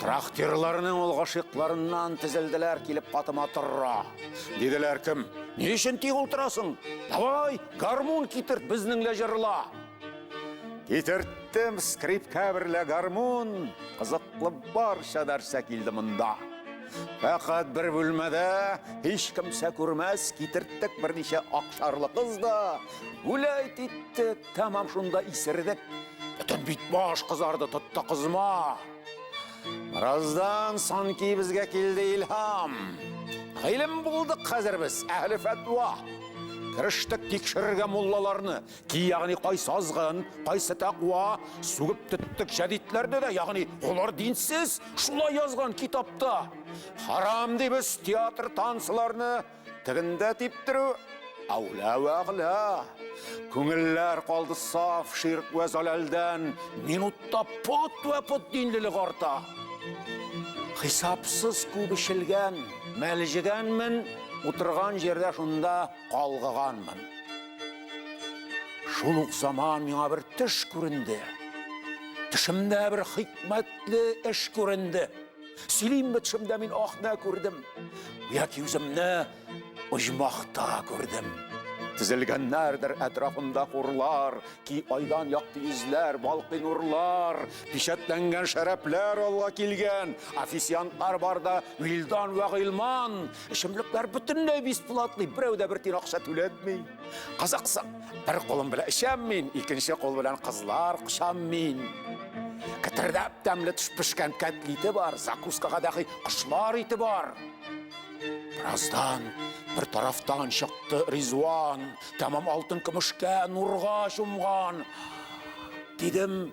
Трактирларның ул гашыкларыннан тезелделәр килеп катыма торра. Диделәр кем? Ни өчен тик ултырасың? Давай, гармун китерт безнеңлә җырла. Китерттем скрипка берлә гармун, кызыклы барча нәрсә килде монда. Фәкать бер бүлмәдә һич кемсә күрмәс китерттек берничә акшарлы кыз да, гүләйт иттек. Тәмам шунда исердек. Бөтен бит баш кызарды, тотты кызма. Раздан санки безгә килде илһам. Гыйлем булдык хәзер без, әһле фәтва. Керештек тикшерергә муллаларны, ки ягъни кайсы азгын, кайсы тәкъва, сүгеп төттек җәдитләрне дә, ягъни олар динсез, шулай язган китапта. Харам дибез театр танцларны, Тегендә типтерү Аулә вә агля. Күңелләр калды саф ширк вә заләлдән, минутта пот вә пот динлелек арта. Хисапсыз күп эчелгән, мәлҗегәнмен, утырган җирдә шунда калгыганмын. Шул ук заман миңа бер төш күренде. Төшемдә бер хикмәтле эш күренде. Сөйлимме төшемдә мин акны күрдем, яки үземне оҗмахта күрдем. Тезелгәннәрдер әтрафында хурлар, ки айдан якты йөзләр, балкый нурлар, печатләнгән шәрәпләр алга килгән, официантлар барда Вилдан вә Гыйлман, эчемлекләр бөтенләй бесплатный, берәү дә бер тин акча түләтми. Кызыксың, бер кулым белән эчәм мин, икенче кул белән кызлар кочам мин. Кәтердәп тәмле төш пешкән кәтлите бар, закускага дәхи кошлар ите бар. Бераздан бер тарафтан чыкты Ризуан, тәмам алтын көмешкә нурга чумган. Дидем,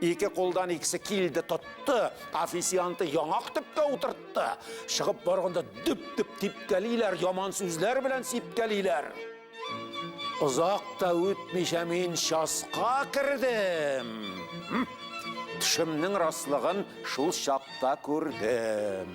Ике кулдан икесе килде, тотты, официанты яңак төпкә утыртты. Чыгып барганда дөп-дөп типкәлиләр, яман сүзләр белән сипкәлиләр. Озак та үтмичә мин часка кердем. Төшемнең раслыгын шул чакта күрдем.